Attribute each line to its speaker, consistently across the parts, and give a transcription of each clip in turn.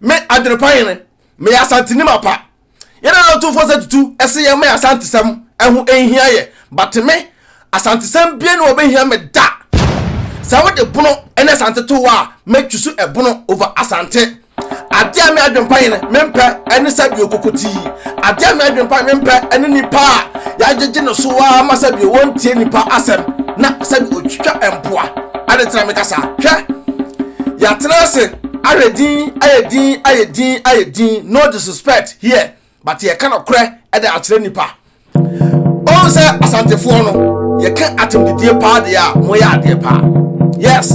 Speaker 1: me adwenepa hene meyɛ asanteni mapa yɛne na ɔtumfoɔ sɛ tutu ɛse yɛn mɛ asantesɛm ɛho ɛnhia yɛ but me asantesɛm bie ne wɔbɛhia me da sɛ wode bono ɛne asante to wɔ a mɛtwi so ɛbono over asante adeɛ a me adwenepa hene mempɛ ɛne sɛ biokoko tii adeɛ a me adwenepa mempɛ ɛne nipa a yɛagyegye no so ara ma sɛdeɛ wɔntie nnipa asɛm na sɛdeɛ ɔtwitwa mpoa. Ade tena me kasa. Hwɛ, yɛatena ase ahwɛ din ayɛ din ayɛ din ayɛ din, no disrespect here, but yɛka nokorɛ de akyerɛ nnipa. Ɔhu sɛ Asantefoɔ no, yɛka atemdidie paa deɛ a, moyɛ adeɛ paa. Yes,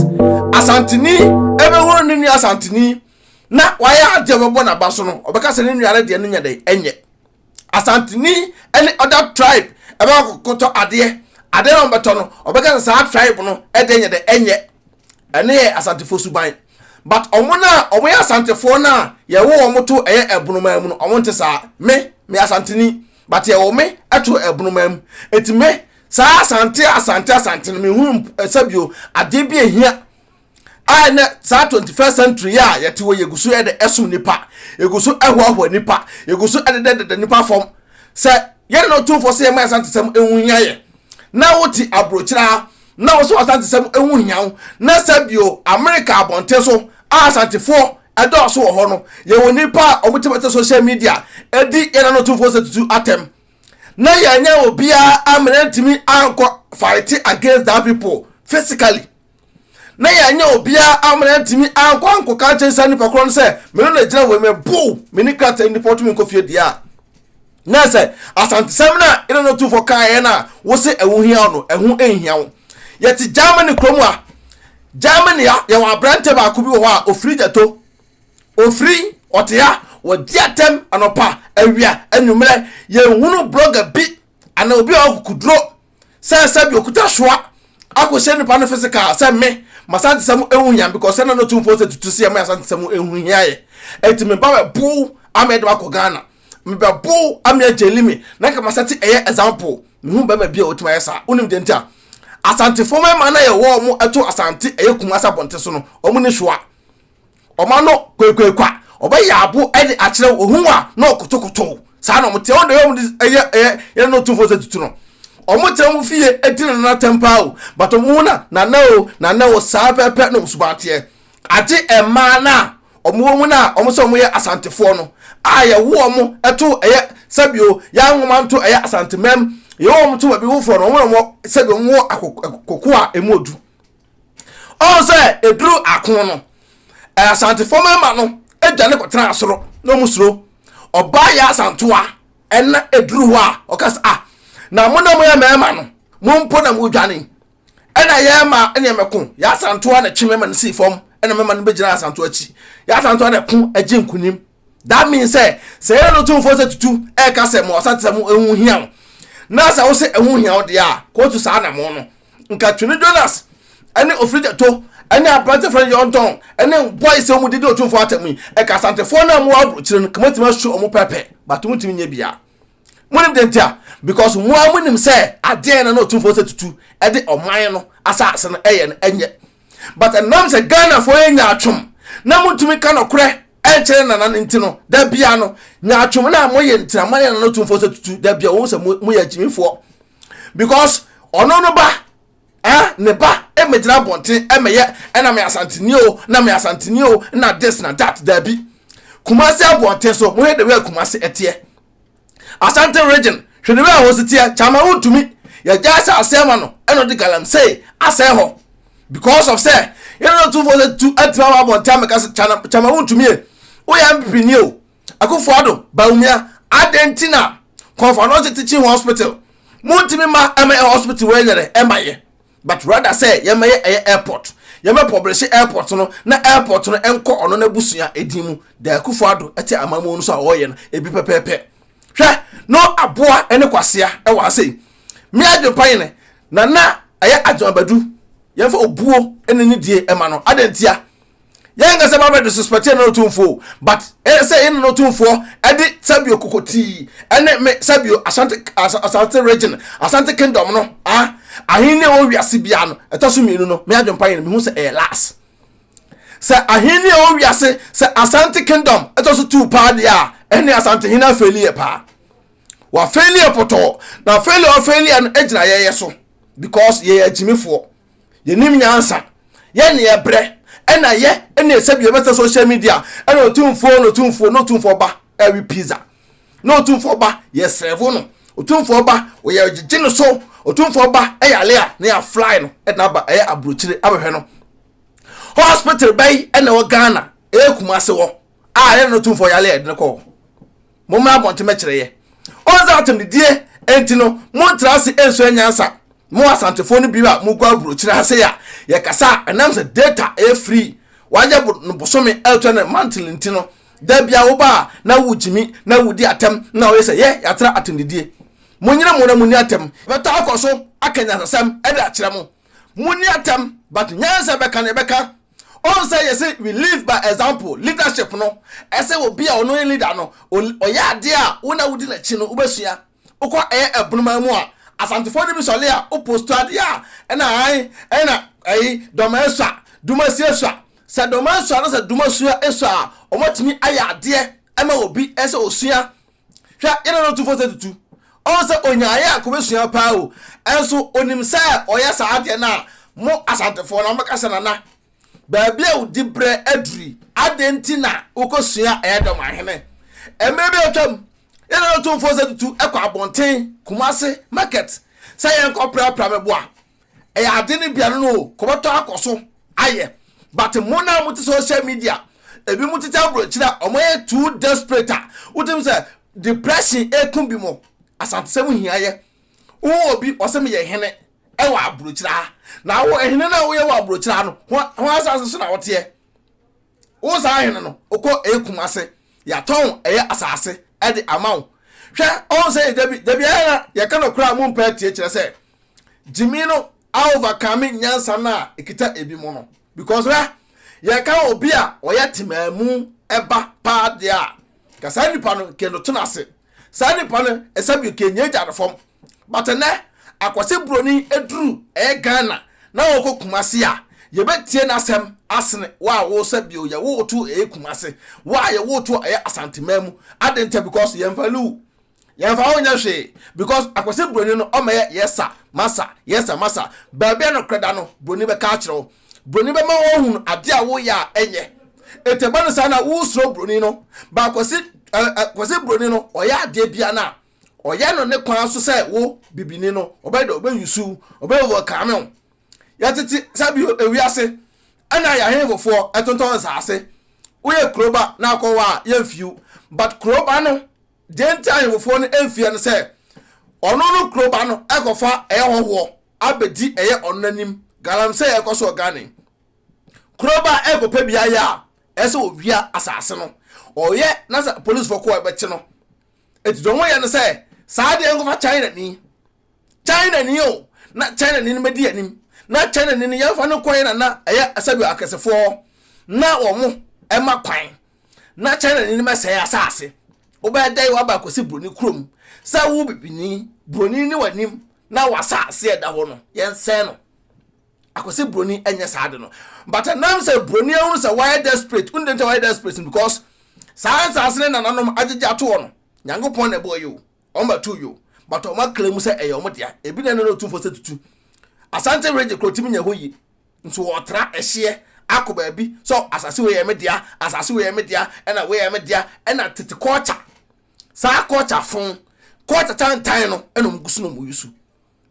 Speaker 1: Asanteni ɛbɛhunu ne nua Asanteni na wayɛ adeɛ a ɔbɛbɔ n'aba so no, ɔbɛka sɛ ne nua no deɛ no nyɛ dɛn, ɛnyɛ. asanteni ne other tribe ɛbɛ kɔtɔ adeɛ adeɛ na ɔbɛtɔ no ɔbɛka sɛ saa tribe no ɛdeɛ nyɛ dɛ ɛnyɛ ɛne yɛ asantefoɔ suban but ɔmo no a ɔmo yɛ asantefoɔ no a yɛwo ɔmo to ɛyɛ ɛbonomaa mu no ɔmo nte saa me me asanteni but yɛwo me ɛto ɛbonomaa mu eti me saa asante asante asante no mehunu sɛbio adeɛ bi ehia a ɛnɛ saa 21st century yi a yɛte wɔ yɛgu so de ɛsom nipa yɛgu so ɛhoahoa nipa yɛgu so ɛdedɛdedɛ nipa fam sɛ yɛne no tumfoɔ sɛ yɛma asantesɛm ɛho hia yɛ na wote aburokyira na wo so asantesɛm ɛho hia wo na sɛ bio amerika abɔnten so a asantefoɔ ɛdɔɔso wɔ hɔ no yɛwɔ nipa a wɔtebɛte social media ɛdi yɛne no tumfoɔ sɛ tutu atɛm na yɛnyɛ obiara amena ntumi ankɔ fight against that people physically na yɛanyɛ obiara amena antumi ankɔ ankɔka nkyɛn saa nipa korɔ no sɛ mene na gyina wɔ mmerɛ bow mene krataa nipa ɔtumi nkɔ fie deɛ a na sɛ asantesɛm no a ɛna no tufoɔ kaeɛ no a wo se ɛho hia wo no ɛho nhia wo yɛte germany kurom a germany a yɛwɔ aberantɛ baako bi wɔ hɔ a ɔfiri gyato ɔfiri ɔte ha wɔdi atɛm anɔpa awia anwummerɛ yɛhunu blogger bi anaa obi a ɔkukuduro sɛ sɛ bi okuta soa akɔhyɛ nipa no physical sɛ me masantesɛm ehu hia because sɛ na no tumfoɔ sɛ tutu sɛ me asantesɛm ehu hia yɛ eti me ba bɛ bow ama ɛde akɔ ghana me bɛ bow ama agyeli me na nka masɛte ɛyɛ example mehu bɛma bi a otuma yɛ saa wonim deɛ nti a asantefo mɛma na yɛ wɔn mo ɛto asante ɛyɛ kuma sɛ abɔnte so no wɔn ne soa Ɔma no kwakuakua, ɔbɛyɛ abo de akyerɛ wo, ohun a na ɔkotokotow. Saa na wɔte. Wɔn de wɔn de ɛyɛ ɛyɛ yɛn no tumfoɔ sɛ tutu no. Wɔn tena wɔn fie di no nana tɛm paa o, but wɔn ho na nana o, nana o, saa pɛpɛ na wɔn suban teɛ. Agye mmaa no a wɔn wɔ mu no a wɔn sɛ wɔn yɛ Asantefoɔ no a yɛwo wɔn to ɛyɛ sɛbio yɛn nwoma nto ɛyɛ Asantemɛm, yɛwo wɔn to baabi wofoɔ no wɔn na wɔn sɛbio wɔn wɔ akoko a emu odu. ɔn sɛ eduru akon no ɛ asantefo mmarima no adwa ne kɔtena asoro na ɔmo suro ɔbaa yɛ asantoa ɛna eduru hɔ a ɔka sɛ ah na mo na mo yɛ mmarima no mo mpo na mo dwane ɛna yɛ ma ɛna yɛ mɛko yɛ asantoa na kye mɛma no sii fam ɛna mɛma no bɛgyina asantoa akyi yɛ asantoa na ɛko agye nkunim that means sɛ sɛ yɛn no tumfoɔ sɛ tutu ɛka sɛ mo ɔsatira mu ɛho hia wo na sɛ wosɛ ɛho hia wo deɛ a kɔɔtu saa na mo no nka twene jonas ɛne ofirigyato ɛne aberante fɛn yɔntɔn ɛne bɔi sɛ wɔn didi otumfoɔ atɛm yi ɛka asantefoɔ no a mo wɔ aburokyire no kama tumi asu wɔn pɛpɛ bato mo tumi nyɛ biara monim de nti a because mo a monim sɛ adeɛ na na ɔtumfoɔ sɛ tutu ɛde ɔman no asase no ɛyɛ no ɛnyɛ but ɛnam sɛ ghanafoɔ yɛ nyaatwom na montumi ka nɔkorɛ ɛnkyerɛ nana no nti no da bia no nyaatwom no a moyɛ ntina moayɛ nana ɔtumfoɔ sɛ tutu da bia wɔhu sɛ moyɛ agyimifoɔ because ɔno no ba eh, ne ba mmɛgyina abɔnten mmɛyɛ ɛna me asanteni o na me asanteni o na this na that daabi kumase abɔnten so mohwɛ de wɛ kumase ɛteɛ asante region hwɛ de wɛ a wɔsi teɛ kyama wontumi yɛgya asɛ asɛe ma no ɛna ɔde galamsey asɛe hɔ because of sɛ yɛn na tumfoɔ sɛ tu atuma wɔ abɔnten amɛka sɛ kyama wontumi yɛ woyɛ mpini o Akufo-Addo, Bawumia, adɛn nti na Kɔnfɔnɔsi Teaching Hospital montumi ma ɛmɛ yɛ hospital wɔ ɛnyɛrɛ ɛma yɛ but rather sɛ yɛmɛyɛ ɛyɛ airport yɛmɛ publishe airport no na airport no ɛnkɔ ɔno na busua edin mu da akufo ado ɛte amamuo no so a ɔyɛ no ebi pɛpɛɛpɛ hwɛ no aboa ɛne kwasea ɛwɔ ha sei me adwempa yene na na ɛyɛ adwemabadu yɛmfa obuo ɛne ne die ɛma no adantia yɛn ankasa ba bɛde suspɛte yɛn no tumfoɔ but ɛsɛ yɛn no tumfoɔ ɛde sabio kokotii ɛne me sabio asante asante region asante kingdom no ah ahenni a wɔwɔ wiase biara no ɛtɔ so mmienu no me adwempa yɛn no mehu sɛ ɛyɛ last sɛ ahenni a wɔwɔ wiase sɛ asante kingdom ɛtɔ so tuu paa deɛ a ɛne asante hene afɛli yɛ paa wafɛli yɛ pɔtɔɔ na afɛli ɔfɛli yɛ no gyina yɛyɛ so because yɛyɛ agyimifoɔ yɛnim nyansa yɛ ne ɛbrɛ ɛna yɛ ɛna ɛsɛ bi ɛbɛsɛ social media ɛna otumfoɔ na otumfoɔ na otumfoɔ ba ɛwe pizza na otumfoɔ ba yɛ sɛvo no otumfoɔ ba ɔyɛ gyegye no so otumfoɔ ba ɛyɛ ale a na yɛ fly no ɛna aba ɛyɛ aburokyire abɛhwɛ no hospital bɛyi ɛna wɔ ghana ɛyɛ kumase wɔ a ɛna otumfoɔ yɛ ale a ɛde no kɔɔ. mommra abɔnten mɛkyerɛ yɛ ɔn sɛ atemdidie enti no montra ase nsua nyansa mo asantefoɔ no bi a mokɔ aburokyire ha sɛ a yɛkasa a ɛnam sɛ data ɛyɛ free wayɛ no bosome ɛtɔ no mantle nti no da bia woba a na wogyimi na wodi atɛm na woyɛ sɛ yɛ yɛatra atemdidie monyere mo na monni atɛm bɛta akɔ so aka nyansasɛm ɛde akyerɛ mo monni atɛm but nyansa bɛka no ɛbɛka Ohun sɛ yɛse we live by example, leadership no, ɛsɛ obi a ɔno ne leader no, ɔyɛ adeɛ a wo na wodi n'akyi no wobɛsua. Wokɔ ɛyɛ Abunuman mu a, Asantefoɔ no bi sɔre a wo post adeɛ a, ɛna ae, ɛna ɛyi, Dɔma asua, Duma si asua. Sɛ Dɔma asua na sɛ Duma sua asua a, wɔatumi ayɛ adeɛ ama obi sɛ ɔsua Hwɛ, yɛn nana ɔtumfoɔ sɛ tutu. Ɔn sɛ onya ayɛ a kobesua paa o. Ɛnso onim sɛ ɔyɛ saa adeɛ no a, mo Asantefoɔ no mobɛka sɛ nana, baabi a wo dibrɛ aduru yi, adɛn nti na wokɔsua ɛyɛ dɛ ma hene? Mmerɛ bi a atwam, yɛn nana ɔtumfoɔ sɛ tutu kɔ abɔnten, Kumasi market, sɛ yɛnkɔprapra meboa. ɛyɛ ade no bia no no o kɔbɛtɔ akɔ so ayɛ but mo na mo te social media ebi mo tete aburokyire a wɔn ayɛ too desperate a wotim sɛ depression eku bi mo asantesɛm hia yɛ wo obi ɔsɛ meyɛ hene ɛwɔ aburokyire ha na wo hene no a woyɛ wɔ aburokyire ha no ho asase so na woteɛ wo saa hene no wokɔ ekum ase yɛatɔn ɛyɛ asase ɛde ama wo hwɛ ɔn sɛ dabi dabi ɛyɛ na yɛka no koraa mo mpɛ tie kyerɛ sɛ gyimi no aovakame nyansa no a ɛkita ebi mu no because hwɛ yɛka obi a ɔyɛ temaa mu ɛba paa deɛ a ka saa nipa no kɛ no tena ase saa nipa no ɛsɛ bi kɛ nyɛ gya no fam but ɛnɛ akwase buroni aduru ɛyɛ ghana na wɔkɔ kumase a yɛbɛtie n'asɛm asene wo a wosɛ bio yɛ woto ɛyɛ kumase wo a yɛ woto ɛyɛ asantemaa mu ade nta because yɛmfa lewu yɛmfa wo nyɛ hwee because akwasi broni no ɔmɛyɛ yɛsa masa yɛsa masa baabi a nokorɛ da no broni bɛka akyerɛ wo broni bɛma woahunu adeɛ a woyɛ a ɛnyɛ ɛti ɛba no saa na wosuro broni no ba akwasi akwasi broni no ɔyɛ adeɛ bia no a ɔyɛ no ne kwan so sɛ wo bibini no ɔbɛyɛ dɛ ɔbɛyusu ɔbɛyɛ overcome wo yɛtete sɛ bio ewiase ɛna yɛ ahenfofoɔ ɛtontɔn nsaase woyɛ kuroba na akɔwa a yɛmfiw but kuroba no Gye nti ahemfofoɔ no mfiɛ no sɛ ɔno no kuro ba no ɛkɔfa ɛyɛ hɔhoɔ abɛdi ɛyɛ ɔno n'anim galamsey ɛkɔ so ɔgane kuro ba ɛkɔpɛ biayɛ a ɛsɛ ɔwia asase no ɔyɛ na sɛ policefoɔ kɔ ɛbɛkye no ɛti dɔn wɔyɛ no sɛ saa deɛ nkɔfa China ni China ni o na China ni no mɛdi anim na China ni no yɛmfa no kɔyɛ na na ɛyɛ asɛbi akɛsefoɔ na wɔn ɛma kwan na China ni no bɛsɛe asase. Wobɛyɛ dɛn waba akɔsi buroni kurom sɛ wo bibini, buroni ne w'anim na w'asase a ɛda hɔ no yɛnsɛe no. Akɔsi buroni ɛnyɛ saa de no. But ɛnam sɛ buroni ahunu sɛ wayɛ desperate, wone dɛn nti wayɛ desperate no because saa nsase ne nananom agyegye atoɔ no, Nyankopɔn na ɛbɔɔ yi o. wɔn bɛto yo but wɔn akra mu sɛ ɛyɛ wɔn dea ebi na ɛne no tumfo sɛ tutu asante regye kurotim nyɛ hɔ yi nso wɔtra ɛhyeɛ akɔ baabi sɛ asase wei yɛ me dea asase wei yɛ me dea ɛna wei yɛ me dea ɛna tete kɔɔkya saa kɔɔkya fon kɔɔkya tantan no ɛna wɔn gu so na wɔn yi so.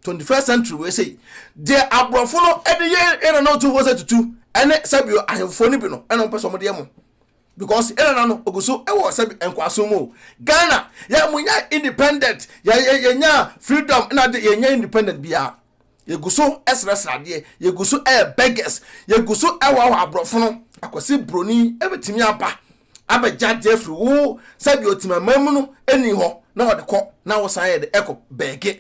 Speaker 1: twenty first century wei sei deɛ aborɔfo no ɛde yɛ ɛna na ɔtumfoɔ sɛ tutu ɛne sɛbio ahemfo no bi no ɛna ɔmpɛ sɛ ɔmo deɛ mo because ɛna na no ogu so ɛwɔ sɛ nkwaso mu ghana yɛ mo nya independent yɛ yɛ yɛ nya freedom ɛna de yɛ nya independent biara yɛgu so ɛsrɛsrɛ adeɛ yɛgu so ɛyɛ beggars yɛgu so ɛwɔ awɔ aborɔfo no akwasi broni ɛbɛtumi aba abɛgya de afiri wo sɛdeɛ ɔtimamam mu no ɛni hɔ na ɔde kɔ na wosan yɛ de ɛkɔ bɛɛge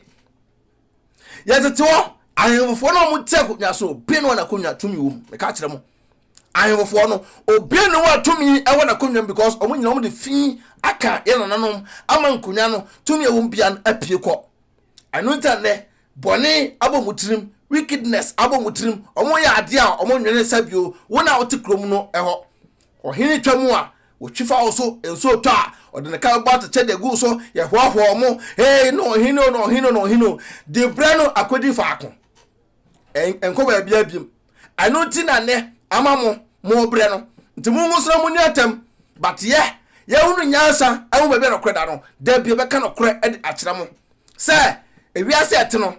Speaker 1: yɛtete hɔ ahemfofoɔ no ɔmo te akonnwa so obi no anakonnwa tumi wɔ mu meka kyerɛ mo ahemfofoɔ no obi ne wɔ tumi ɛwɔ n'akonnwa mu because ɔmo nyina ɔmo de fi aka yɛ nananom ama nkonnwa no tumi ɛwɔ mu bia no apue kɔ ɛno nti nnɛ bɔne abɔ mu tirim wickedness abɔ mu tirim ɔmo yɛ adeɛ a ɔmo nwene sɛ bio wo na wote kurom no ɛhɔ Ɔhene twa mu a, wɔtwi fa wo so, nso ɔtɔ a, ɔde ne kan bɔ atɛkyɛ de gu wo so, yɛhoahoa wɔn, Hei ne ɔhene o, ne ɔhene o, ne ɔhene o, de brɛ no akɔdi faako. Ɛn, ɛnkɔ baabiara biom. Ɛno nti na nnɛ ama mo, morebrɛ no. Nti mongo so na monni atɛm. But yɛ, yɛahunu nyansa ahu baabi a nokorɛ da no, da bi yɛbɛka nokorɛ de akyerɛ mo. Sɛ, ewiase a ɛte no,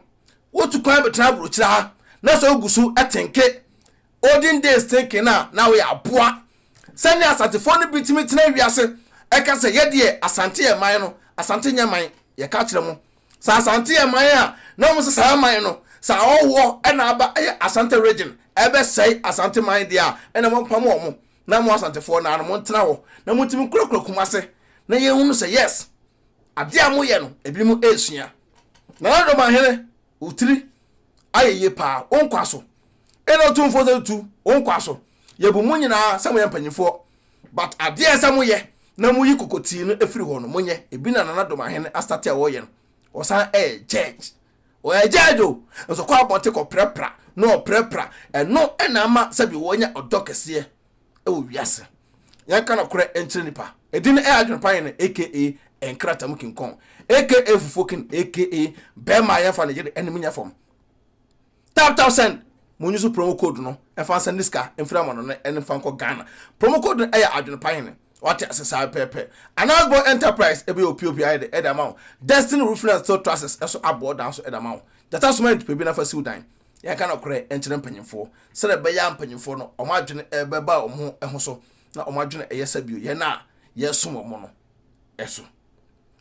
Speaker 1: wotu kwan bɛtena aburokyire ha, na sɛ wogu so tenke Olden days thinking a na woyɛ aboa sɛnea Asantefoɔ no bi tumi tena wiase ɛka sɛ yɛ deɛ Asante yɛ man no Asante nyɛ man yɛka kyerɛ mo sɛ Asante yɛ man a na wɔn sɛ saa man no sɛ ahɔhoɔ ɛna aba ɛyɛ Asante region ɛbɛsɛe Asante man deɛ a ɛna mo mpam wɔn na mo Asantefoɔ naa no mo ntena hɔ na mo tumi nkurakura Kumase na yɛn hunu sɛ yes adeɛ a mo yɛ no ebi mo ɛresua Nana Domahene wotiri ayɛ yie paa, wo nkwa so. Ɛna Otumfoɔ sɛ tu, wo nkwa so. Yɛbu mo nyinaa sɛ moyɛ mpanimfoɔ, but adeɛ a ɛsɛ moyɛ na moyi kokotii no afiri hɔ no, monyɛ. Ebi na Nana Domahene astate a ɔreyɛ no. Ɔsan yɛ judge. Ɔyɛ judge o, nso ɔkɔ abɔnten kɔprapra na ɔprapra. Ɛno na ama sɛbi wanya ɔdɔ kɛseɛ wɔ wiase. Yɛnka nokorɛ nkyerɛ nipa. Ɛdin no ɛyɛ adwene pa yɛn aka nkrata mu kinkɔn aka fufuo kin aka bɛrima a yɛmfa ne yere anim nyɛ fam. Tap tap send mo nyi so promo code no ɛfa nsa ne sika mfiri ama no ne ɛnfa nkɔ Ghana. Promo code no ɛyɛ adwene pa yɛn. Wate ase saa pɛpɛ. Announce boy enterprise ɛbɛyɛ opiopi ayɛ de ɛde ama wo. Destiny roofing and steel trusses ɛso aboɔ dan so ɛde ama wo. Gyata soma nipa bi na fa siw dan. Yɛnka nokorɛ nkyerɛ mpanyimfoɔ, sɛdeɛ ɛbɛyɛ a mpanyimfoɔ no, wɔn adwene bɛba wɔn ho ho so, na wɔn adwene ɛyɛ sɛ bio yɛn a yɛresom wɔn no ɛso.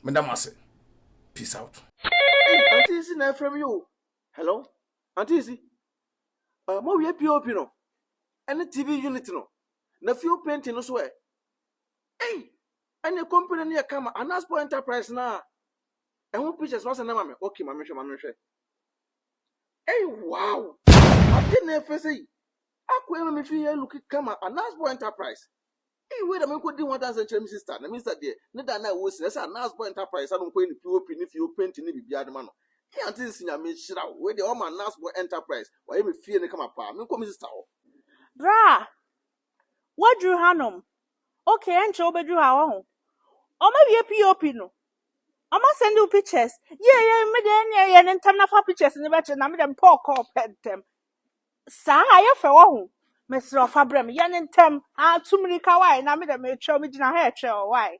Speaker 1: Meda mo ase. Peace out. Ei aunty
Speaker 2: Isi na ɛfrɛ me yi o. Hello aunty Isi. Uh, mo awie POP no ɛne TV unit no na fuel painting no so ɛ. Ei ɛne company no yɛ kama Anaspo Enterprise na ɛho pictures no asɛ na ma me. Okay ma me hwɛ ma me hwɛ. Ei wow! Ade na ɛfɛ sɛ yi. Akɔ ɛma me fie yɛ look kama Anasbo Enterprise. Ei wei na me nkɔ di ho adanse nkyerɛ me sister na me sister deɛ ne da na ɛwɔ nsi na ɛsɛ Anasbo Enterprise sa no nkɔ yɛ ne POP ne fie o painting ne biribiara de ma no. Ei aunty nsi Nyame nhyira wo wei deɛ ɔma Anasbo Enterprise wayɛ me fie no kama paa me nkɔ me sister hɔ. Bra!
Speaker 3: Woaduru hanom. Okay, ɛnkyɛ wobɛduru ha, woahu. Wɔawie POP no. Wɔasɛnde wo pictures. Yie, yie, me deɛ ɛnneɛ yɛ no ntɛm na fa pictures no bɛkyerɛ na me deɛ mepɛ ɔkɔɔ pɛ ntɛm. Saa a, yɛ fɛ, woahu. Mesrɛ wo fa brɛ me, yɛ no ntɛm. Ah, tu mmirika, why? Na me deɛ meretwɛn, megyina ha retwɛn, why?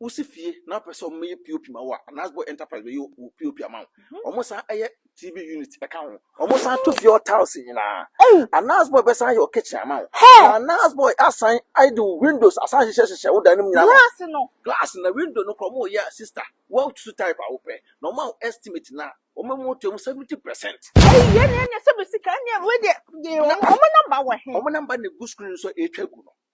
Speaker 2: Wosi fie na wopɛ sɛ wɔyɛ POP ma wo a, Anasbo Enterprise bɛyɛ wo POP ama wo. Mhm. Wɔsan yɛ TV unit ka ho. Wɔsan to fie hɔ tiles nyinaa. Anasbo bɛsan yɛ wo kitchen ama wo. Na Anasbo asan de wo windows asan hyehyɛ hyehyɛ wo dan no mu nyinaa. Glass no. Glass na window no kora wɔyɛ a sister. Wɔatutu type a wopɛ. Na wɔn a estimate na wɔn mu to mu 70%. Ɛyi yɛ ne ɛnyɛ
Speaker 3: sɛ bɛ sika ne ɛmu deɛ. Wɔn namba wɔ he? Wɔn namba na egu screen so
Speaker 2: a ɛretwa gu no.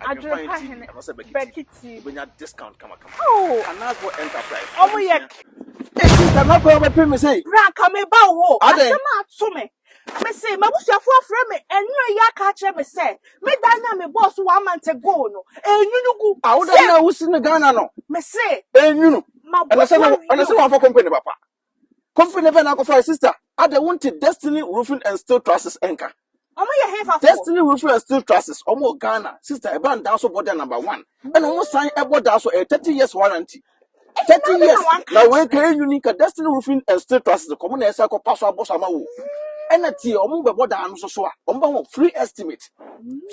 Speaker 2: Adwerepa hene Bɛkiti. Oh! Ɔmo yɛ.
Speaker 3: Eti sɛ
Speaker 2: mɛkɔ ɔmo pɛ mi sei. Bra ka me ba wo.
Speaker 3: Adɛn? Asɛm a ato me. Me se m'abusuafo afrɛ me ɛnura yi aka akyerɛ me sɛ me dan no a me bɔɔ so one month ago no enwunu gu. Awoda no a wosi
Speaker 2: no Ghana no. Me se.
Speaker 3: Enwunu. Ɛna
Speaker 2: sɛ ɛna sɛ wɔn afɔ company papa. Kofi ne Verna kɔfae sister. Ada wonte Destiny Roofing and Steel Trusses nka? Ɔmo
Speaker 3: yɛ hefa fo? Destiny Roofing and Steel
Speaker 2: Trusses, ɔmo wɔ Ghana. Sister, ɛba no daa so bɔ dɛ number one. Ɛna ɔmo san ɛbɔ daa so, ɛyɛ thirty years warranty. Thirty years, na wei ka ɛnyini ka Destiny Roofing and Steel Trusses, kɔmo na ɛsan kɔ pa so abɔ so ama wo. Ɛna tie, ɔmo bɛbɔ daa no so so a, ɔmo bɛma wo free estimate.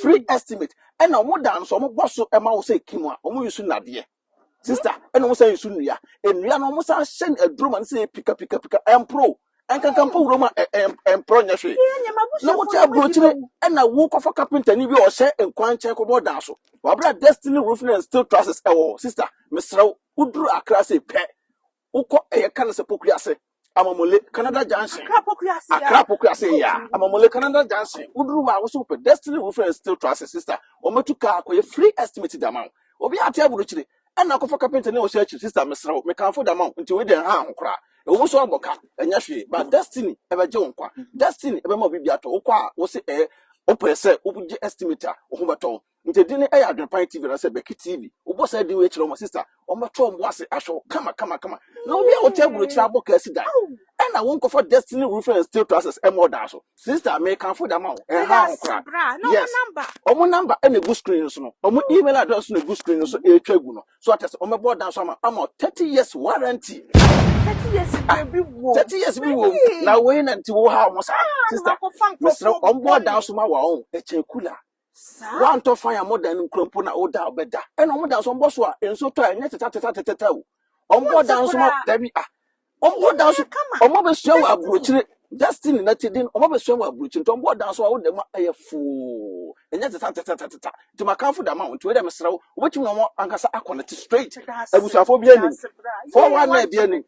Speaker 2: Free estimate. Ɛna ɔmo daa no so, ɔmo bɔ so ɛma wo sɛ ɛki mu a, ɔmo use nnadeɛ. Sister, ɛna wɔn san nsu nnua. Nnua no wɔn san hyɛ no aduro ma no sɛ pika pika pika ɛmporo. Ɛnkankan mpo wuram a ɛmporo nyɛ hwee. Na wokyɛ aburokyire ɛna wokɔfa kapentani bi a ɔhyɛ nkwan nkyɛn kɔbɔ dan so. Wabra Destiny Roofing and Steel Trusses ɛwɔ hɔ. Sister, mesrɛ wo, woduru Accra sei pɛ, Wokɔ ɛyɛ ka no sɛ Poku ase, Amamule, Canada Junction. Accra Poku ase ya. Accra Poku ase ya. Amamule, Canada Junction. Woduru hɔ a, wosɛ wopɛ Destiny Roofing and Steel Trusses, sister. Wɔbɛtu kaa akɔyɛ free estimate de ama wo. Obiara te aburokyire. Ɛnna akɔfa kapentani a ɔhyɛ akyiri, sister, mesrɛ wo, mekamfo de ama wo, nti wei deɛ ɛnha ho koraa. Ɛwɔ mu sɛ woabɔ ka, ɛnyɛ hwee, but Destiny bɛgye wo nkwa. Destiny bɛma wo biribi atɔ. Wokɔ a, wose ɛɛ, wopɛ sɛ wogye estimate a, wo ho bɛtɔ wo. Nti edin no yɛ Adwenpan TV anaasɛ Bɛki TV. Wobɔ saa din wei kyerɛ wɔn a, sista, wɔbɛto wɔn bo ase ahwɛ wo kama kama kama. Na obi a wote aburokyiri abɔ kaa si dan, ɛna wonkɔfa Destiny Roofing and Steel Trusses ɛmmɔ ɔdan so. Sista, mekamfo de ama wo, ɛnhaw ho koraa. Yes, wɔn number na egu screen no so no, wɔn email address nso na egu screen no so ɛretwa agu no. So ate ase, wɔbɛbɔ ɔdan so ama ama wo 30 years warranty.
Speaker 3: Thirty years Ah,
Speaker 2: biribi wɔ. 30 years bi wɔ mu. Na wei na nti wohaw ho saa. Sista, mesrɛ wo, wɔbɔ ɔdan so ma wo a, ɔn, ɛkyɛn cooler. Woantɔ fan a modan no nkura mpo na woda a wobɛda. Ɛna wɔn da nso wɔbɔ so a nsuo tɔ a ɛnyɛ tetatatatata o. Wɔbɔ da nso ma dabi a. Wɔbɔ da nso wɔn abɛsua wɔ aburokyire Destiny na ti den wɔn abɛsua wɔ aburokyire nti wɔbɔ da nso a woda mu a ɛyɛ foo ɛnyɛ tetatatatata nti makanfo da ma wɔn nti wei dɛ mesrɛ wo wobɛtumi na wɔn ankasa akɔnɛte straight abusuafoɔ bi anim fɔwa na ebi anim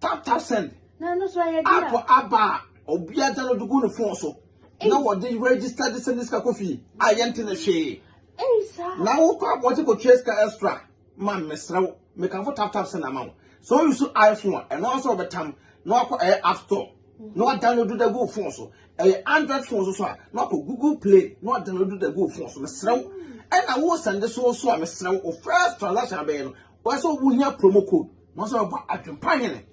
Speaker 1: tata send app
Speaker 3: aba a
Speaker 2: obiara gya no de gu ne fon so na wɔde register de send sika kɔ fie a yɛnte ne hwee na
Speaker 3: wokɔ abɔnten
Speaker 2: kɔtua sika extra ma mesrɛ wo mekamfo tap tap send ama wo so you so iphone a ɛno nso wɔbɛtam na wakɔ ɛyɛ app store na wadownload da gu fon so ɛyɛ android fon so so a na wakɔ google play na wadownload da gu fon so mesrɛ wo ɛna wo send so so a mesrɛ wo first transaction abɛyɛ no Wɔn sɛ wɔn hia promo code. Wɔn sɛ wɔba adwempa hene.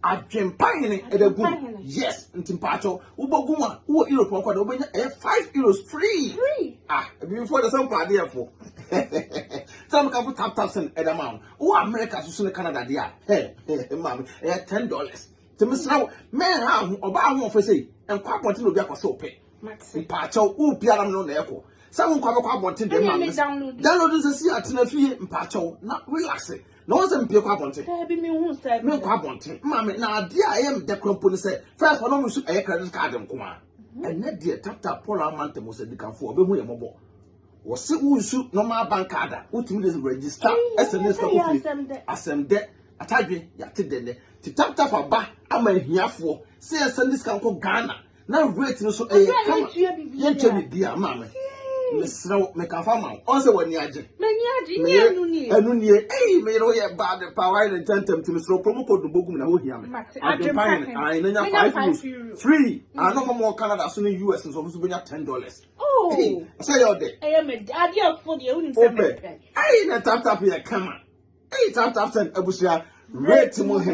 Speaker 2: Adwempa hene ɛbɛ gu mu. Yes, nti mpatsɔ wobɔ gu mu a wowɔ Europe ɔkɔ do wobɛnya ɛyɛ five euros free. Ah, ebibifo ɛdɛ sɛ nkɔ adeɛ fo. Sɛ meka fo tap tap sɛn ɛdɛ ma wɔn. Wowɔ America soso ne Canada deɛ a, hɛ hɛ maame ɛyɛ ten dollars. Tèmi srɛ wo, mɛn ha ho ɔbaa ahoɔfɛ sɛ yi, nkɔ abɔnten na obi akɔsɛ wo pɛ. Mate. Mpaakyɛw, wo biara no na ɛkɔ. Sɛ wo nkwa bɛkɔ abɔnten deɛ ma me. Download. Download nsɛ si atena fie mpaakyɛw na relax. Na wɔn sɛ mpie kɔ abɔnten. Daabi mi hu sɛ. Me
Speaker 3: nkɔ abɔnten. Maame
Speaker 2: na adeɛ a ɛyɛ me dɛ kura mpo ne sɛ fɛn kɔ na wɔn nso ɛyɛ credit card nko a. Mhm. Ɛnɛ deɛ tap tap Paul ama ntɛm sɛ dikanfoɔ ɔbɛhu yɛ mɔbɔ. Wɔsi wo nsu normal bank card a wotumi de register sms kɔ fie. Asɛm dɛ. Atadwe yate dɛ nɛ. Ti tap tap aba ama ahiafoɔ sɛ yɛsɛ ne sika nkɔ Ghana. na rate no so ɛyɛ kama yɛntua biribi a maa me mesrɛ wo meka fa ma wo ɔn sɛ w'ani agye meyere ɛno nie ei meyere woyɛ bad pa wayɛ ne ntɛntɛm nti mesrɛ promo code no bɔgu me na wohia me adwempa hene ae na nya 5 euros free ano ma mɔ canada so ne us nso ɔmo so bɛnya 10 dollars oh. sɛ yɛ ɔdɛ wopɛ ei na taptap yɛ kama ei taptap sɛn abusua rate mu hene